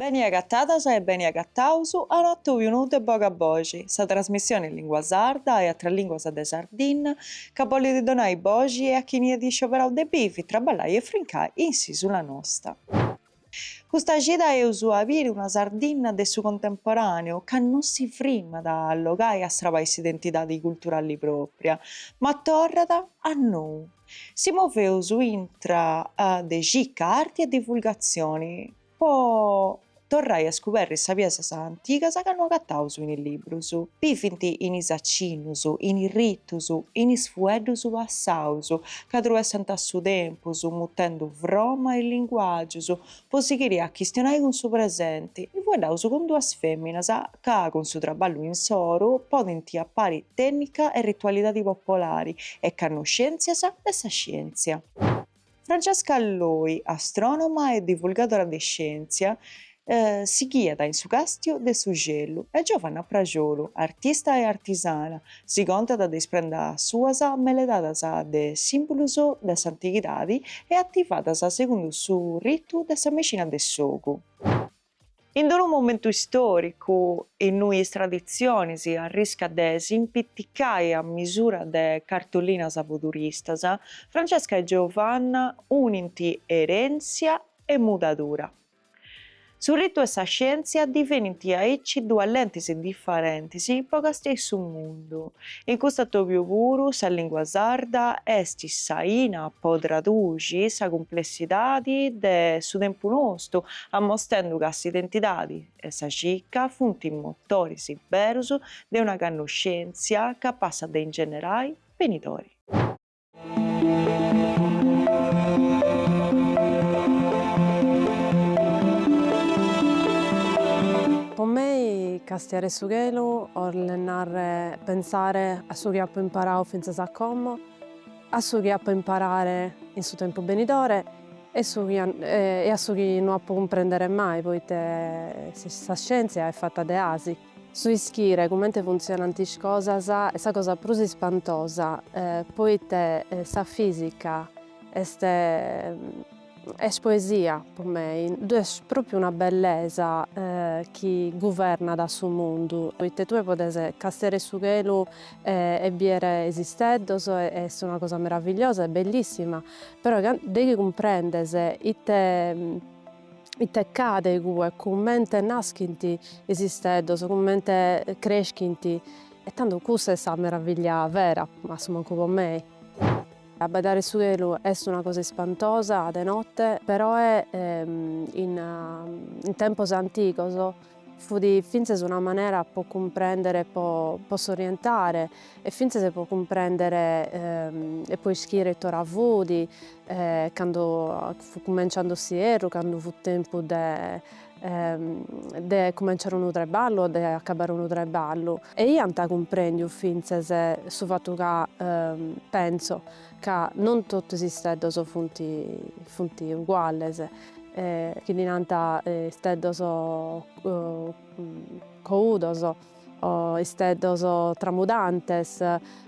Beni agatadas e beni agataus a un'atobiu nou de Boga Boxi, sa trasmissioni in lingua sarda e atras linguas de Sardinna chi bolit donai boxi e a chini at iscioberau de bivi, traballai e frincai in s'isula nosta. Custa cida eus a biri una Sardinna de su contemporàneu chi no si frimat a allogai a sarbai s'identidadi culturali pròpria, ma torrat a nou. Si moveus intra de cicca, arti e divulgatzioni po torrai a scuberri sapiesas antigas chi no agataus in is librus. Bivint in is acinnus, in is ritus, in is fueddus passaus, chi truessant su tempus, mudendu froma e linguàgius, po sighiri a chistionai cun su presenti. Fueddaus cun duas fèminas chi, cun su traballu insoru, ponint apari tènnica e ritualidadi popolari e cannoscèntzias de sa scièntzia. Francesca Loi, astrònoma e divulgadora de scièntzia, si ghiat in su càstiu de su celu e Giovanna Prajolu, artista e artisana, si contat de is prendas suas meledadas de sìmbolus de s'antighidadi e ativadas segundu su ritu de sa mexina de s'ogu. In d-unu momentu istòricu innui is traditzionis arriscant de s'impiticai a misura de cartolinas po turistas, Francesca e Giovanna unint erèntzia e mudadura. Su ritu e sa scièntzia divenint aici duas lentis diferentis po castiai su mundu. In cust'atobiu puru sa lìngua sarda est s'aina po traduxi sa cumplessidadi de su tempu nostu, amostendu ca s'identidadi e sa cica funt is motoris berus de una cannoscèntzia capassa de ingenerai benidori. Pro mei castiare su chelu 'ollet narrer pensare a su chi apo imparau fintzas a como, a su chi apo imparare in su tempus benidore e a su chi no apo cumprendere mai poite sa scièntzia est fatta de asi. Su ischire cumente funtzionant is cosas est sa cosa prus ispantosa, poite sa fìsica est est poesia pro mei. Ddu est pròpriu una bellesa chi guvernat su mundu, poite tue podes castiare su chelu e biere is isteddos e est una cosa meravigliosa e bellissima, però de chi cumprendes ite ite ch'at igue, cumente naschint is isteddos, cumente creschint, e tando cussa est sa meraviglia vera, ma a su mancu po mei. Abbaidare su chelu est una cosa ispantosa de notte, peroe in tempos antigos, Fut fintzes una manera po cumprèndere, po s'orientare e fintzes po cumprèndere e po ischire it'ora fut cando fut cumenciande s'ierru, cando fut tempus de cumenciare unu traballu o de acabbare unu traballu. E iant cumprèndiu fintzes su fatu ca, pentzo, ca non totus is isteddos funt uguales, chi ddi nant isteddos coudos o isteddos tramudantes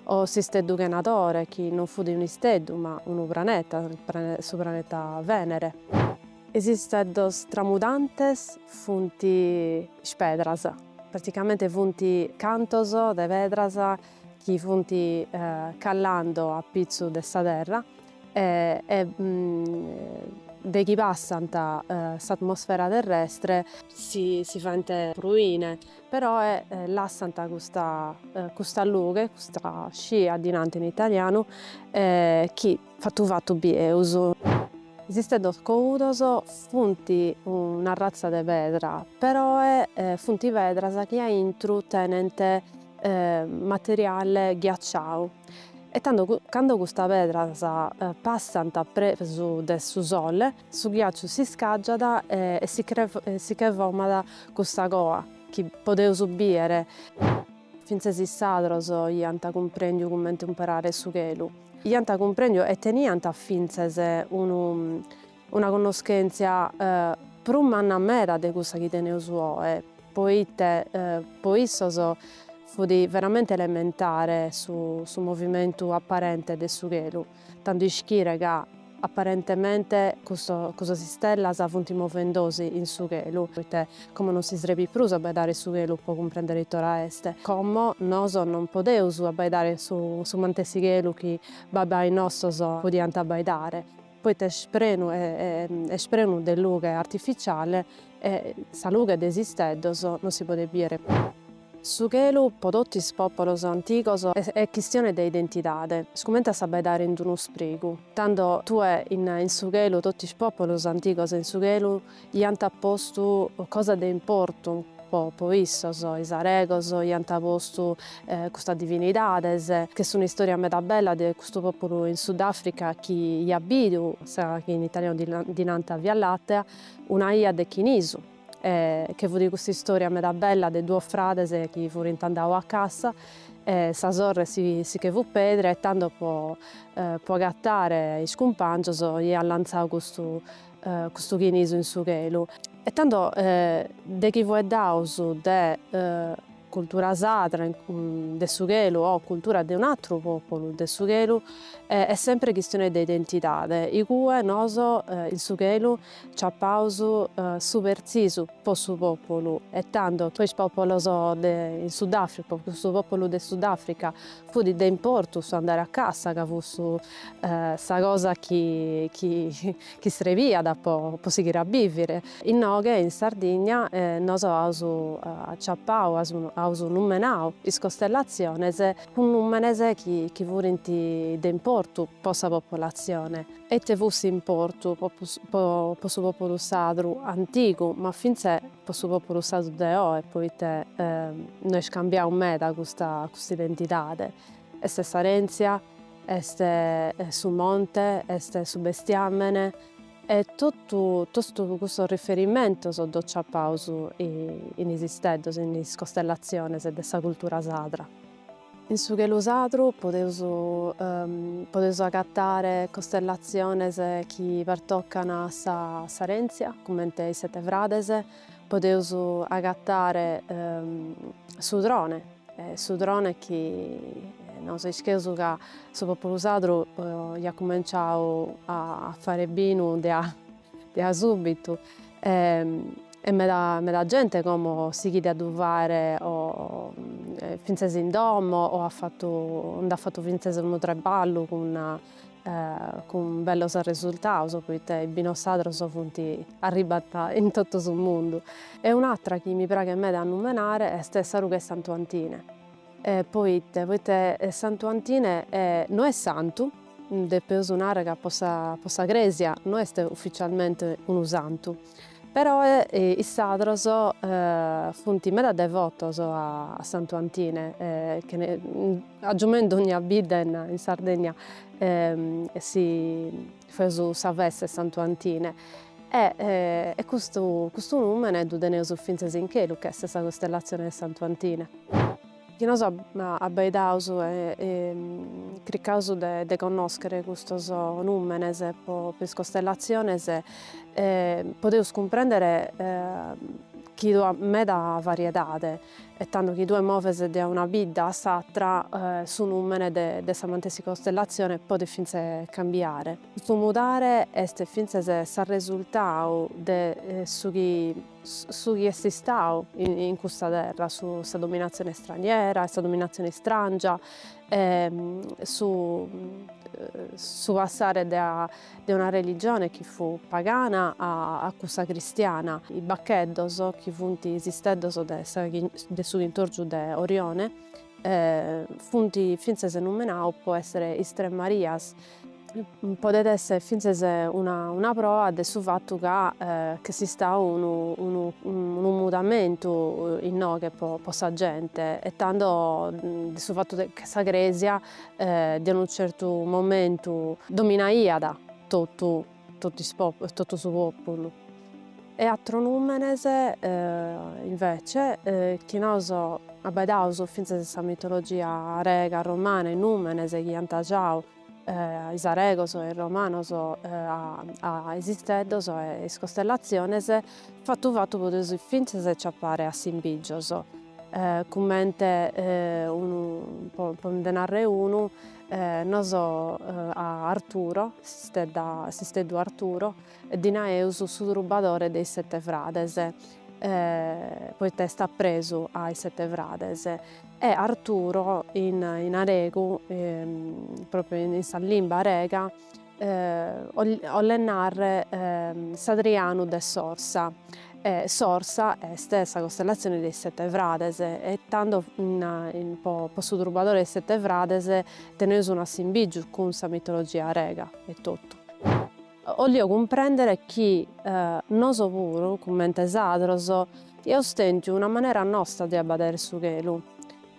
o s'isteddu chenadore, chi non fut unu isteddu ma unu praneta, su praneta Venere. Is isteddos tramudantes funt pedras, praticamente funt cantos de pedras chi funt callando a pitzus de sa terra e de chi passant s'atmosfera terrestre, si faint pruine, però lassant custa lughe, custa scia ddi nant in italianu, chi Fatu fatu bieus. Is isteddos coudos funt una arratza de pedra, peroe funt pedras chi a intru tenent materiale ghiaciau e cando custas pedras passant apresu de su sole su ghiaciu s'iscàgiat e si che format custa coa chi podeus bìere. Fintzes is sadros iant cumprèndiu cumente umperare su chelu. Iant cumprèndiu e teniant fintzes una connoschèntzia prus manna meda de cussa chi teneus oe, poite po issos fut veramente elementare su movimentu aparente de su chelu. Tando ischire ca, apparentemente, custas istellas funt movendosi in su chelu, poita como non si srebit prus abbaidare su chelu po cumprendere it'ora est, como nos non podeus abbaidare su mantessi chelu chi babbais nostos podiant abbaidare, poita est prenu de lughe artificiale E sa lughe de is isteddos non si podet bìere prus. Su chelu po totu is pòpulos antigos est chistione de identidade, est cumente a s'abbaidare in unu sprigu. Tando tue in su chelu totu is pòpulos antigos in su chelu iant postu cosas de importu po po issos, is aregos iant postu custas divinidades, ch'est un'istòria meda bella de custu pòpulu in Sudafrica chi iat bidu sa chi in italianu ddi nant Via Làtea, Una 'ia de chinisu, e che fut custa istoria meda bella de duos frades chi furint andau a cassa e sa sorre si che fut pedra e tando po po agattare is cumpangios iat lanzau custu custu chinisu in su chelu e tando de chi fueddaus de cultura sadra de su chelu o cultura de un'àteru pòpulu de su chelu est sempre chistione de identidade, igue nos in su chelu ciapaus su pertzisu po su pòpulu e tando po is pòpulos de in Sudafrica, po custu pòpulu de Sudafrica fut de importu su andare a cassa ca fut su sa cosa chi chi chi srebiat po po sighire a bivire inoghe in Sardigna e nos aus aciapau aus aus numenau is costellatziones cun numenes chi chi furint de importu po sa populatzione e ite fut s'importu po po po po su populu sadru antigu ma fintzes po su populu sadru de oe poite no est cambiau meda custa custa identidade est s'arentzia Est su monte, est su bestiàmene e totu, totu custos riferimentos ddos ciapaus in is isteddos, in is costellatziones de sa cultura sadra. In su chelu sadru podeus podeus agatare costellatziones chi pertocan a sa s'arèntzia, comente is sete frades, podeus agatare s'udrone, S'udrone chi nos ischeus ca su populu sadru iat cumenciau a fare binu de a de a subitu e meda meda gente como sighit a ddu fare o finzas in domo o at fatu nd'at fatu finzas unu traballu cun cun bellos resultados poite is binos sadros funt arribbande in totu su mundu e un'atra chi mi praghet meda a numenare est sa rughe 'e Santu Antine poite poite Santu Antine no est santu depeus narrer ca po sa po sa cresia no est ufficialmente unu santu Però is sadros funt meda devotos a Santu Antine, ca agiumai in dogna bidda in Sardegna si feus sa festa 'e Santu Antine e e custu custu numene ddu teneus fintzas in chelu ch'est sa costellatzione 'e Santu Antine. Chi nos abaidaus e cricaus de connoschere custos nùmenes po is costellatziones, podeus cumprèndere chi ddu at meda variedade e tando chi tue moves de una bidda a s'atra su nùmene de sa matessi costellatzione podet fintzes cambiare. Custu mudare est fintzes s'arresultau de su chi su chi est istadu in custa terra, su sa dominatzione straniera e sa dominatzione istràngia e su su passare de a de una religione chi fut pagana a a cussa cristiana, is baccheddos chi funt is isteddos de sa de su chintòrgiu de Orione funt fintzes numenados po essere is tres Marias Podet esser fintzes una proa de su fattu ca ch'est istau unu mudamentu inoghe po sa gente e tando de su fattu che sa cresia de unu certu momentu dominaiat tottu. totu is populus, totu su populu. E àteros numenes invece chi nos abbedaus finzas in sa mitologia rega, romana, is numenes chi iant giau is aregos e is romanos a is isteddos e is costellaziones, fatu fatu podeus finzas aciappare assimbìgios, cummente, nu, po nde narrer unu. Nos a Arturo, s'istedda, s'isteddu Arturo, ddi naeus su trubadore de is sete frades, poita est apresu a is sete frades. E Arturo in aregu, propriu in sa limba arega, Ollet narre s'ardianu de s'Orsa. S'Orsa est sa costellatzione de is Sette Frades e tando po su trubadore de is Sette Frades teneus un'assimbìgiu cun sa mitologia rega etotu. 'Ollet cumprèndere chi noso puru, cummente is àteros, iaus tèntiu una manera nosta de abbadere su chelu.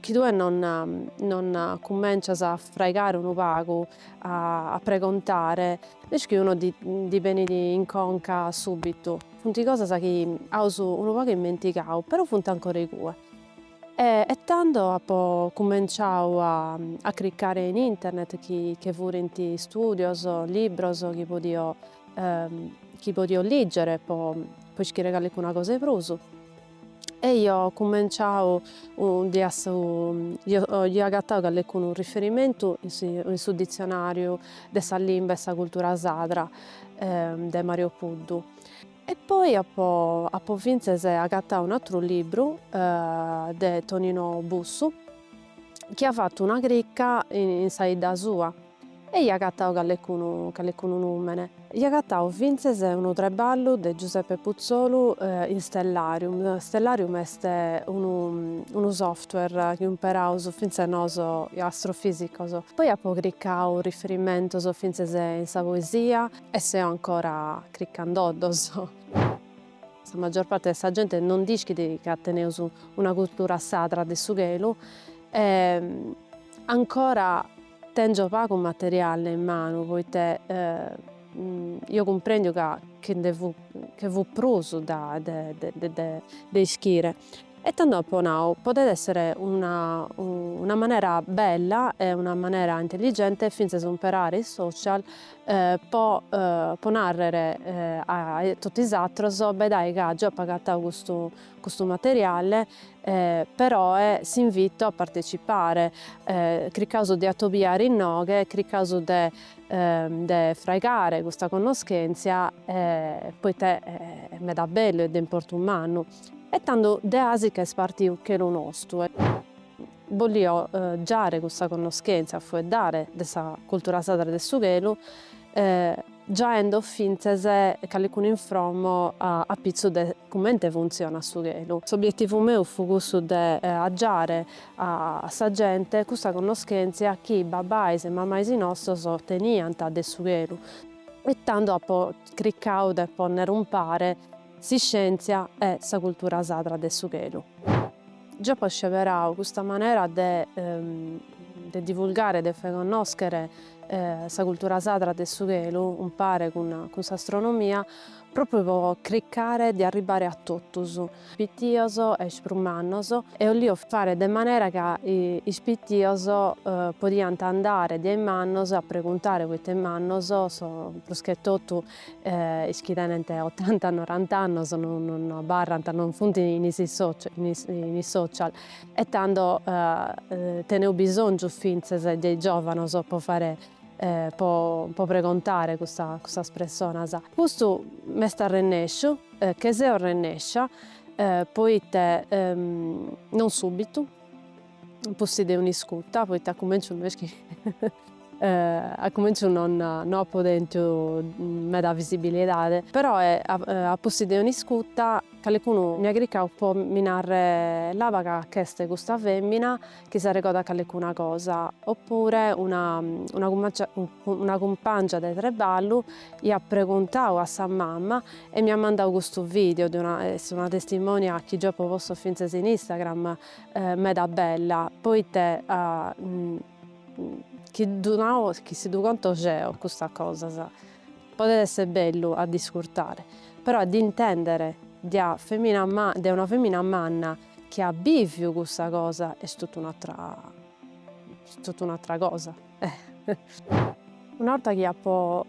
Chi tue non, non cummencias a forrogare unu pagu, a, a pregontare, nesciunu ti, ti benit in conca subitu. Funt cosas chi aus unu pagu immentigau, però funt ancora igue. E, e tando apo cummenciau a, a cricare in internet chi che furint studios, libros chi podio, chi podio liggere po, po ischire callicuna cosa 'e prus. E io cumenciau diasi, io agattau callecunu riferimentu in su ditzionariu de sa limba e sa cultura sadra de Mario Puddu e poi appo appo finzes agattau un'attru libbru de Tonino Bussu chi ha fattu una cricca in sa idda sua. E io agatau callecunu callecunu numene. Io agatau fintzes unu treballu de Giuseppe Puzzolu in Stellarium. Stellarium est unu unu software chi umperaus fintzes noso astrofisicos. Poi apo cricau riferimentos fintzes in sa poesia e seo ancora cricandoddos. Sa maggior parte de sa gente non nd'ischit ca teneus una cultura sadra de su chelu ancora Tèngio pagu materiale in manu poite io cumprèndiu ca che nde fut che fut prus de ischire e tando apo nau podet èssere una una manera bella e una manera intelligente fintzas umperare is social po po nàrrere a totu is atrus bedae ca giò apo agatau custu Custu materiale, peroe, s'invito a partecipare, cricaus de atobiare innoghe, cricaus de de fraigare custa connoschentzia, poite est meda bellu e de importu mannu, e tando deasi ca est partiu chelu nostu, bollio giare custa connoschentzia, fueddare de sa cultura sadra de su chelu, giaendo fintzes calicunu infromo a pitzu de cumente funtzionat su chelu. S'obietivu meu fut cussu de agiare a sa gente cussa connoschentzia chi babais e mamais nostos teniant de su chelu e tando apo cricau de ponner umpare s'iscientzia e sa cultura sadra de su chelu. Giò apo sceberau custa manera de de divulgare, de fàer connòschere sa cultura sadra de su chelu, umpare cun cun s'astronomia, pròpriu po cricare de arribbare a totus, pitios e is prus mannos, e 'olio fare de manera ca is pitios podiant andare dae is mannos a preguntare poite is mannos so prus che totu Is chi tenent otanta norant'annos non abarrant, non funt in is in is social e tando teneus bisòngiu fintzes de is giòvanos po fare po pregontare cussas pressonas. Custu m'est arrennesciu, che seo arrennèscia, poite non subitu, Pustis de un'iscuta, poite a cumenciu no est chi a cumenciu non no apo tentu meda visibilidade, però a pustis de un'iscuta calecunu mi at cricau po mi narrer laba ca ch'est custa femina chi s'arregodat calecuna cosa, oppure una una cumpangia una cumpangia de treballu iat preguntau a sa mama e mi at mandau custu video de una est una testimonia chi geo apo postu fintzas in Instagram meda bella poite chi ddu nau chi si ddu conto geo custas cosas podet esser bellu a dd'iscurtare però a dd'intendere de una femina ma de una femina manna chi at biviu cussa cosa est totu un'atra est totu un'atra cosa. Una 'orta chi apo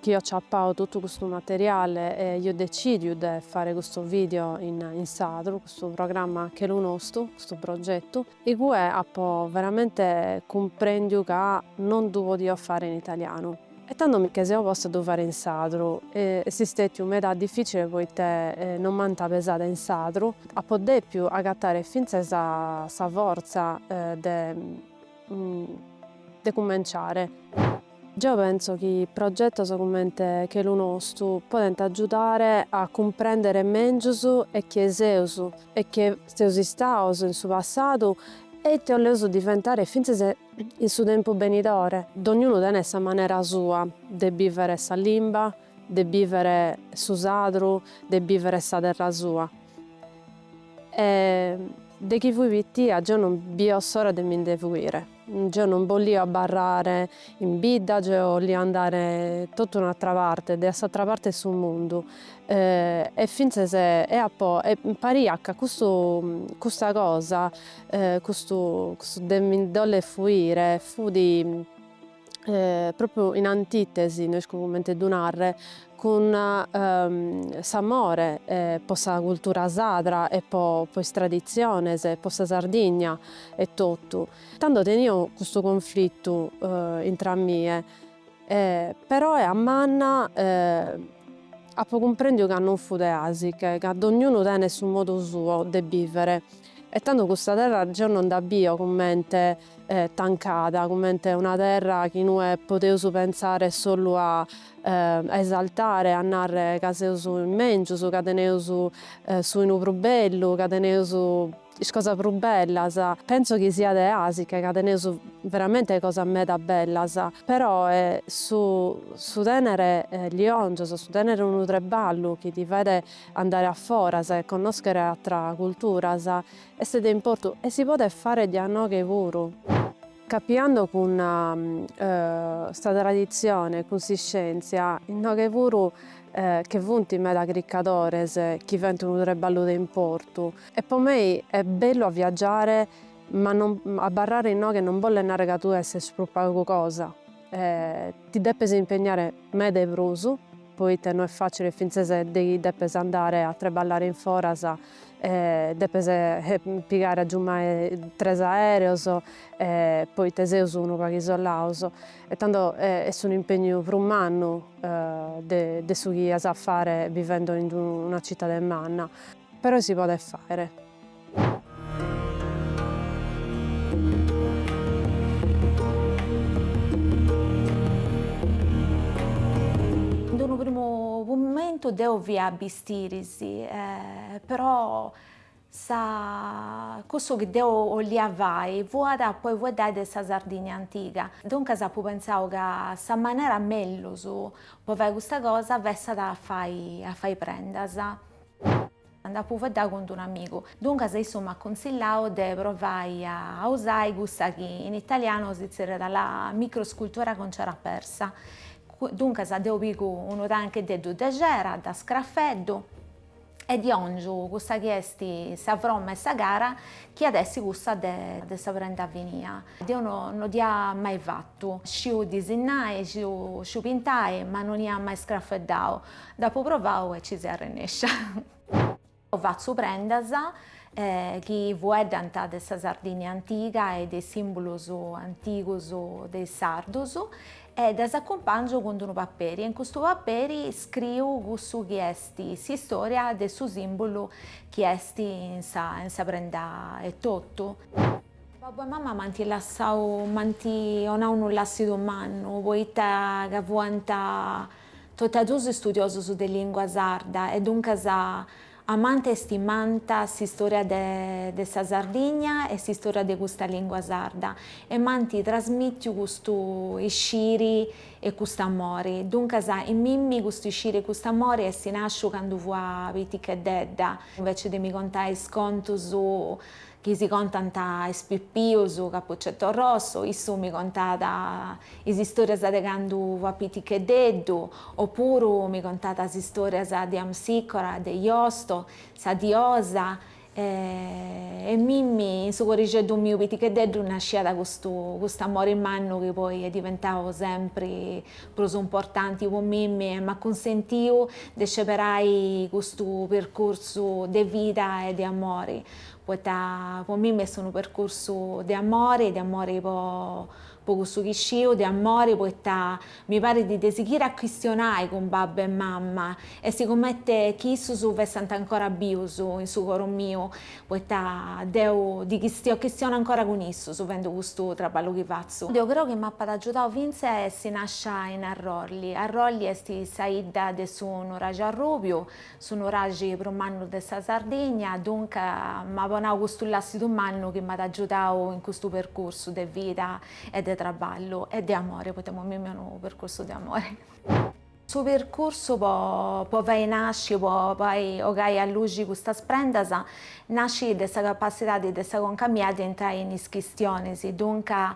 chi io ciapau totu custu materiale e io decidiu de fare custu video in in sadru, custu programma Chelu Nostu, custu progettu, igue apo veramente cumprendiu ca non ddu podio fare in italianu e tando mi che seu posta a ddu fare in sadru e est istetiu meda difficile poite non m'ant pesada in sadru, apo depiu agattare fintzas sa fortza de de cumenciare. Geo penso chi progetos cumente Chelu Nostu podent agiudare a cumprendere mèngius e chie seus e chie seus istaos in su passadu e ite 'oleus diventare fintzas in su tempus benidore. Dognunu tenet sa manera sua de bìvere sa limba, de bìvere su sadru, de bìvere sa terra sua. E de chi fui pitia geo non bio s'ora de mi nde fuire. Geo non bollio abbarrare in bidda, geo 'ollio andare totu un'atra parte, de a s'atra parte 'e su mundu. E fintzas e apo e mi pariat ca custu custa cosa custu custu de mi nde 'oller fuire fudi propriu in antitesi, no isco cumente ddu narre, cun s'amore po sa cultura sadra e po is traditziones, po sa Sardigna etotu. Tando tenio custu conflitu intr'a mie, peroe a manna apo cumprendiu ca non fut de asiche, ca dognunu tenet su modu suo de bivere e tando custa terra geo non dda bio cumente tancada, cumente una terra chi nue podeus pentzare solu a esaltare, a narre ca seus is mengius, ca teneus su 'inu prus bellu, ca teneus is cosas prus bellas. Pentzo chi siat de asiche ca teneus veramente cosas meda bellas, peroe su su tenere liongios, su tenere unu treballu chi ti faet andare a foras e connoschere atras culturas Est de importu e si podet fare dae inoghe puru. Crobando cun sa traditzione e cun s'iscèntzia, inoghe puru che funt meda chircadores chi faent unu treballu de importu. E po mei est bellu a viagiare ma abarrare inoghe non bollet narrer ca tue esses prus pagu cosa. E ti depes impegnare meda e prus, poita no est facile fintzes ca depes andare a treballare in foras depes pigare agiumai tres aereos e poita seus unu pagu isolados e tando est unu impegnu prus mannu de su chi ias a fare bivendo in una citade manna. Però si podet fàere. In unu primu momentu deo fia a bistiri si, però sa cussu chi deo 'olia fai fuat poi fueddai de sa Sardigna antiga, duncas apu pentzau ca sa manera mellus po fai custa cosa fessat a fai a fai prendas, Nd'apu fueddau cun d-unu amigu, duncas issu m'at cunsillau de provai a usai cussa chi in italianu si tzerriat la microscultura cun cera persa. Duncas deu pigu unu tancheddeddu de cera, dda scrafeddu e ddi 'ongiu cussa chi est sa fromma 'e sa cara chi at essi cussa de sa prenda finia. Deu no dd'ia mai fattu, sciu disinnai, sciu pintai, ma non ia mai scrafeddau. Dd'apu provau e ci seu arrennèscia. Fatzu prendas chi fueddant de sa Sardigna antiga e de is sìmbulus antigus de is sardus e ddas acumpangiu cun d'unu paperi e in custu paperi scriu cussu chi est s'istòria de su sìmbulu chi est in sa prenda etotu. Babbu e mama m'ant lassau, m'ant 'onau unu làssidu mannu, poita ca fuant Totu a duus istudiosus de lìngua sarda e duncas amànt e istimànt s'istòria de sa Sardigna e s'istòria de custa lìngua sarda e m'ant trasmìtiu custu isciri e cust'amori. Duncas in mimmi custu isciri e cust'amori est nàsciu candu fua piticheddedda. Invece de mi contai is contus chi si contant a is pipius Cappuccetto Rosso, issu mi contat is istorias de candu fut piticheddeddu, o puru mi contat is istorias de Amsicora, de Iosto, sa diosa, e in mimmi in su corixeddu miu piticheddeddu nasciat custu custu amori mannu chi poi est diventau sempri prus importanti po mimmi e m'at cunsentiu de sceberai custu percursu de vida e de amori. Poita po mimmi est unu percursu de amore, de amore po po cussu chi sciu, de amore poita mi parit de sighiri a chistionai cun babbu e mamma est cumenti chi issus fessant ancora bius in su coru miu, poita deu ddis chistio chistiono ancora cun issus fendu custu traballu chi fatzu. Deu creu chi m'apat agiudau fintzas a essi nascia in Arrolli. Arrolli est sa 'idda de su Nuraxi Arrubiu, Su nuraxi prus mannu de sa Sardigna, dunca, m'at donau custu làssidu mannu chi m'at agiudau in custu percursu de vida e de traballu e de amore, poita imoi mimmi est unu percursu de amore. Su percursu po fai nasci, po fai ogai a luxi custas prendas, nascit de sa capassidadi de sa conca mia de intrai in is chistionis, dunca,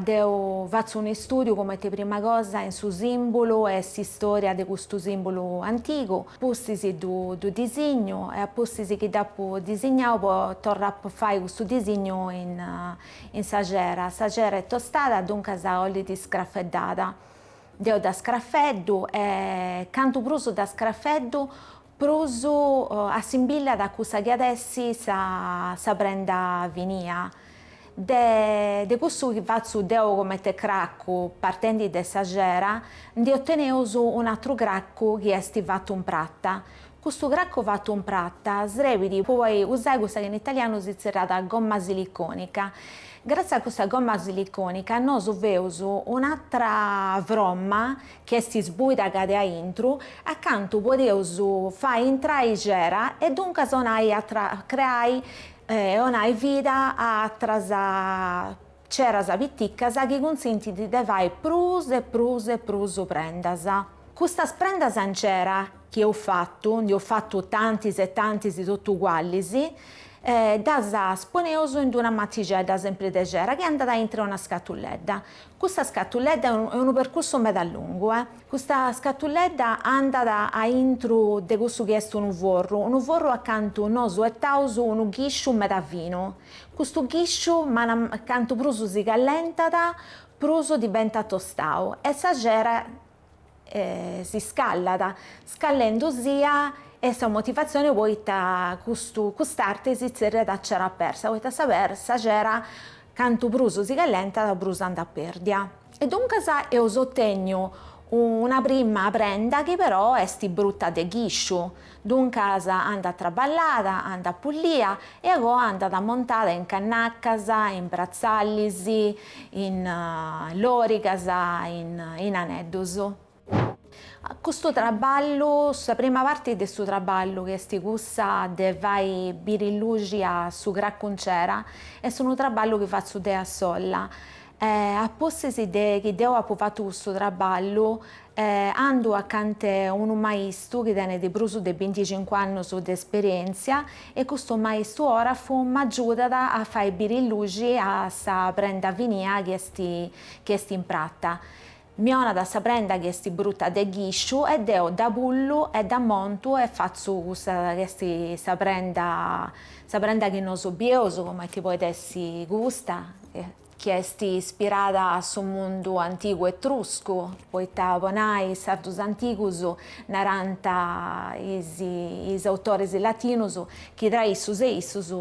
Deu fatzu un'istùdiu cumenti prima cosa in su sìmbulu e s'istòria de custu sìmbulu antigu, pustis ddu disignu e a pustis chi dd'apu disignau potzu torrai a fai custu disignu in sa cera. Sa cera est tostada, duncas 'ollit scrafeddada. Deu dda scrafeddu e cantu prus dda scrafeddu Prus assimbillat a cussa chi at essi sa prenda finia. De cussu chi fatzu deo comente craccu, partendi de sa cera, ndi oteneus un'atru craccu chi est fatu in prata. Custu craccu fatu in prata srebit po poi usai cussa chi in italianu si zerrat gomma siliconica. Gràtzias a custa gomma siliconica nosu feus un'atra fromma chi est isbuida acant'e aintru, acantu podeus fai intrai xera e duncas 'onai a creai e 'onai vida a atras xeras piticas chi cunsintint de fai prus e prus e prus prendas. Custas prendas in xera chi eus fatu, ndi eus fatu tantis e tantis totu ugualis, ddas poneus in d'una matixedda sempri de xera chi andat aintru 'e una scatuledda, Custa scatuledda est unu percursu meda lungu. Custa scatuledda andat a intru de cussu chi est unu forru, unu forru acantu nosu 'ettaus unu ghisciu meda finu. Custu ghisciu cantu prus si callentat, prus diventat tostau e sa cera si scallat, scallendusia est sa motivatzione poita custu cust'arte si tzerriat a cera persa, poita sa sa cera cantu prus si callentat prus andat pèrdia. E duncas eus otenniu una prima prenda chi però est bruta de ghisciu, Duncas andat traballada, andat pullia e a goa andat ammontada in cannacas, in bratzallis, in lòrigas, in aneddus. Custu traballu, sa prima parti de su traballu, chi est cussa de fai biri luxi a su cracuncera, est unu traballu chi fatzu deu a sola. A pustis de chi deu apu fatu custu traballu, E andu acant'e unu maistu chi tenet prus de binticincu annus de esperièntzia e custu maistu òrafu m'agiudat a fai biri luxi a sa prenda finia chi est chi est in prata. Mi 'onat sa prenda chi est bruta de ghisciu e deo dda pullu e dda montu e fatzu cussa chi est sa prenda sa prenda chi nosu bieus, comente podit essi custa. chi est ispirada a su mundu antigu etruscu, poita po nai is sardus antigus narant is is autoris latinus chi tra issus e issus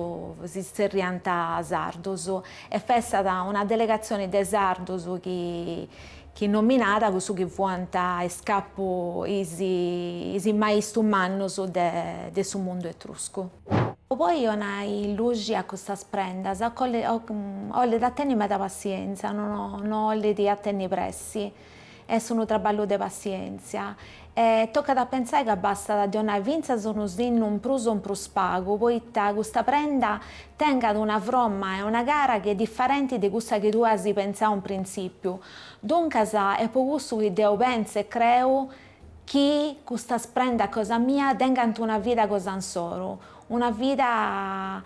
si zerriant sardus e fiat una delegatzioni de sardus chi chi nominàt cussu chi fuant is capu is is maistu mannus de de su mundu etruscu. Po onai luxi a custas prendas ollit a tenni meda passienza, no no ollit a tenni pressi, est unu traballu de passientzia, E tocat a pensai ca bastat de 'onai fintzas unu sinnu in prus o in prus pagu, poita custa prenda tengat una fromma e una cara chi est differenti de cussa chi tue as pensau in printzìpiu. Duncas, est po cussu chi deu pensu e creu chi custas prendas cosa mia tengant una vida cosa insoru, una vida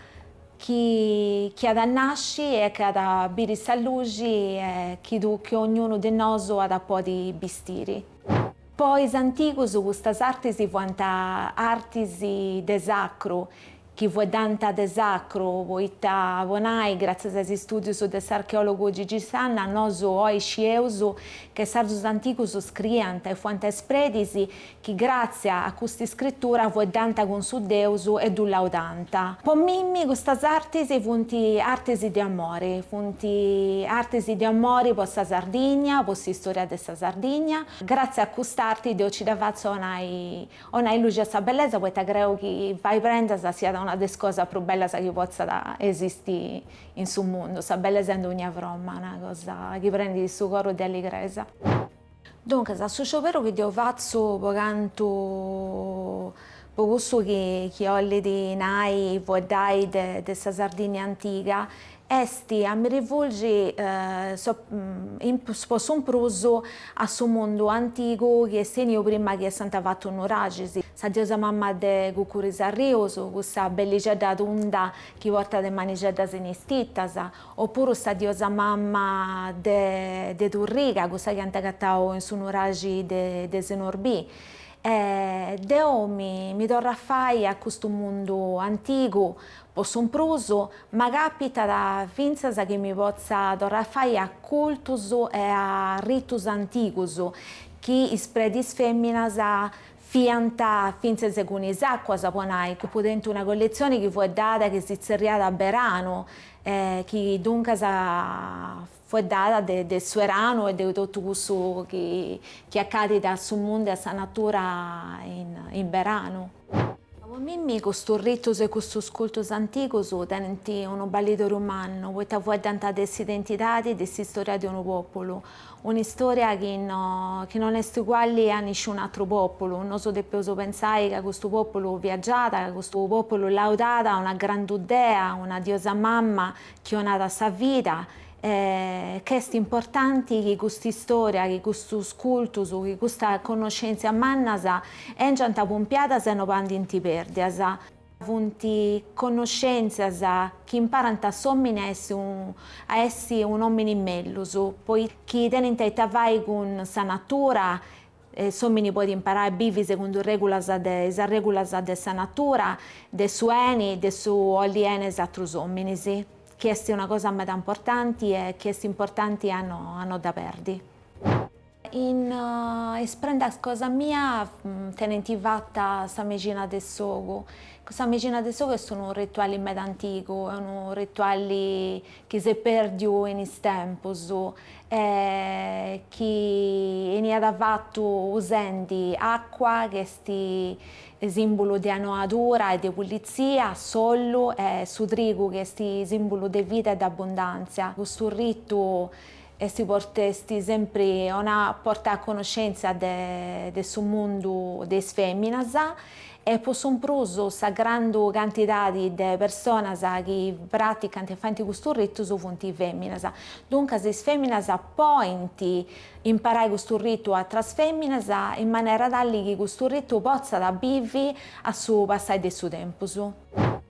chi chi at a nasci e chi at a biri sa luxi e chi ognunu de nosu at a podi bistiri. Po is antigus custas artis fuant artis de sacru, chi fueddant de sacru, poita po nai, gràtzias a is istùdius de s'archeòlogu Gigi Sanna, nosu oi scieus ca is sardus antigus scriiant e fuant is predis chi gràtzia a custa iscritura fueddant cun su deus e ddu laudant. Po mimmi custas artis funt artis de amori, funt artis de amori po sa Sardigna, po s'istòria de Sardigna. Gràtzias a cust'arti deo ci dda fatzu a 'onai luxi a sa bellesa poita creu chi fai prendas siat una de is cosas prus bellas chi potzat esisti in su mundu, sa bellesa in dogna fromma, una cosa chi prendit su coru de alligresa. Duncas, su scioberu chi deu fatzu po cantu po cussu chi 'ollit nai fueddai de sa Sardigna antiga est a mi rivulgi po su mprus a su mundu antigu chi est 'eniu prima chi essant fatu is nuraxis, sa diosa mama de Cuccuru is Arrius, cussa bellixedda tunda chi portat is manixeddas in is tittas, o puru sa diosa mama de Turriga, cussa chi ant agatau in su nuraxi de Senorbì. Deu mi torru a fai a custu mundu antigu Po su mprus ma càpitat fintzas chi mi potza torrai a fai a cultus e a ritus antigus chi is predis fèminas fiant fintzas cun is àcuas, po nai, ca deu tengu una colletzioni chi fueddat chi si tzerriat Beranu e chi duncas Fueddat de de su eranu e de totu cussu chi chi accadit a su mundu e a sa natura in in beranu. Po mimi custus ritus e custus cultus antigus tenint unu ballidoriu mannu poita fueddant de s'identidadi e de s'istoria de unu populu, un'istoria chi no chi non est uguali a nisciunu atru populu, nosu depeus pensai ca custu populu viagiàt, ca custu populu laudàt a una grandu dea, una diosa mamma chi 'onat sa vida e ch'est importanti chi cust'istòria, chi custus cultus, chi custas connoschèntzias mannas èngiant pumpiadas e no bandint pèrdias. Funt connoschèntzias chi imparant a s'òmini a essi a essi un'òmini mellus, poita chi tenint ita fai cun sa natura, e s'omini poit imparai a bivi segundu is arregulas de sa natura, de su eni, de su olli eni a is atrus ominis, chi esti una cosa meda importanti e chi esti importanti a no a no dda perdi. In is prendas cosa mia tenenti fatta sa mexina de s'ogu, cussa mexina de s'ogu est unu rituali meda antigu, e unu rituali chi s'est perdiu in is tempus, e chi 'eniat fatu usendi acua ch'est sìmbulu de anoadura e de pulitzia, s'ollu e su trigu chi est sìmbulu de vida e de abundàntzia. Custu ritu est portau sempri 'onat, portat a conoscèntzia de su mundu de is fèminas e po su mprus sa grandu cantidadi de personas chi praticant e faint custus ritus funt feminas. Duncas is feminas point imparai custu ritu a atras feminas in manera tali chi custu ritu potzat bivi a su passai de su tempus.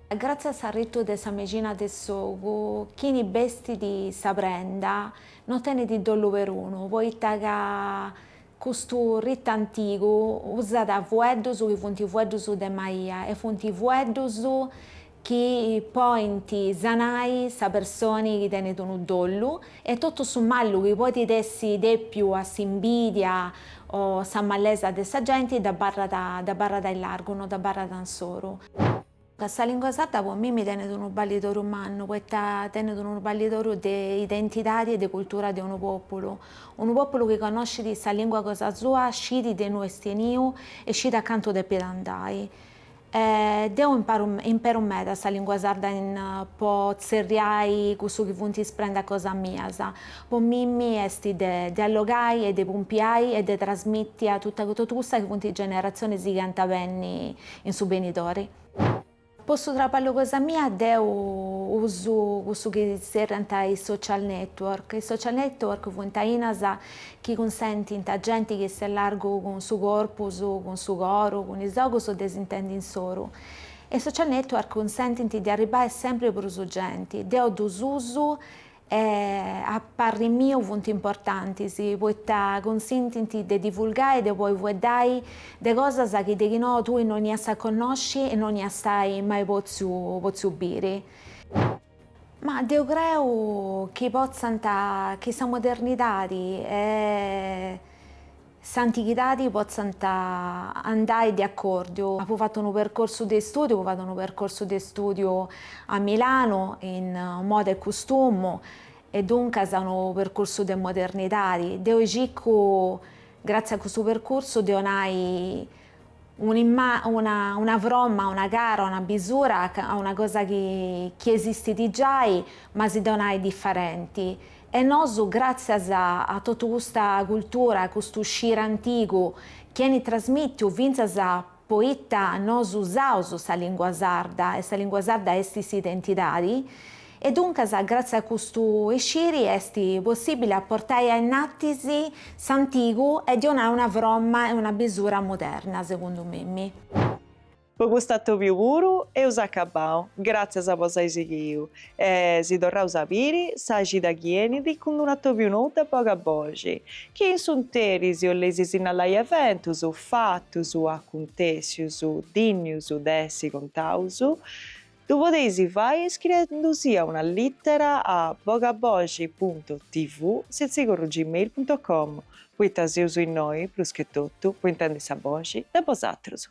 Gratzias a su ritu de sa mexina de s'ogu, chini bestit sa prenda no tenit dollu perunu, poita ca Custu ritu antigu usat fueddus chi funt fueddus de maia e funt fueddus chi podint sanai sa personi chi tenit unu dollu e totu su mallu chi podit essi dèpiu a s'imbidia o sa mallesa de sa genti, dd'abarrat, dd'abarrat a largu, no dd'abarrat insoru. Ca sa lìngua sarda po mimi tenet unu ballidoru mannu, poita tenet unu ballidoru de identidadi e de cultura de unu pòpulu. Unu pòpulu chi connoscit sa lìngua cosa sua scit de innui est 'eniu e scit a cantu depit andai. Deu imparu imperu meda sa lìngua sarda po tzerriai cussu chi funt is prendas cosa mias. Po mimi est de de allogai e de pumpiai e de trasmìti a totu cussa chi funt is generatzionis chi ant a benni In su benidori. Po su traballu cosa mia deu usu cussu chi zerriant is social network. Is social network funt ainas chi cunsentint a genti chi s'est a largu cun su corpus, cun su coru, cun is ogus de s'intendi insoru. E is social network cunsentint de arribbai sempri prus genti. Deu ddus usu e a parri miu funt importantis poita cunsentint de divulgai e de poi fueddai de cosas chi deghinoa tui no ias a connosci e no ias mai potziu potziu biri. Ma deu creu chi potzant, chi sa modernidadi e. s'antighidadi potzant andai de acòrdiu. Apu fatu unu percursu de istùdiu, apu fatu unu percursu de istùdiu a Milanu in Moda e Custumu e duncas unu percursu de modernidadi. Deu circu, gratzias a custu percursu, de 'onai una fromma, una cara, una bisura a una cosa chi esistit giai ma ddi 'onai diferenti. E nosu gràtzias a totu custa cultura, a custu sciri antigu chi enit trasmìtiu fintzas poita nosu usaus sa lìngua sarda e sa lìngua sarda estit s'identidadi, E duncas gratzias a custu isciri est possìbile a portai a innatis s'antigu e de 'onai una fromma e una bisura moderna, segundu mimi. Po custu atobiu puru eus acabau, gràtzias po s'ai sighiu e si torraus a biri sa cida chi enit cun d'unu atobiu nou de boga boxi, chi in s'interis 'olleis sinnalai eventus, fatus, acuntèssius, dinnius de essi contaus, Ddu podeis fai iscriendusia una lìtera a bogaboxi puntu tv setzi corru gmail puntu com poita seus innoi, prus che totu, po intendi sa boxi de bosatrus.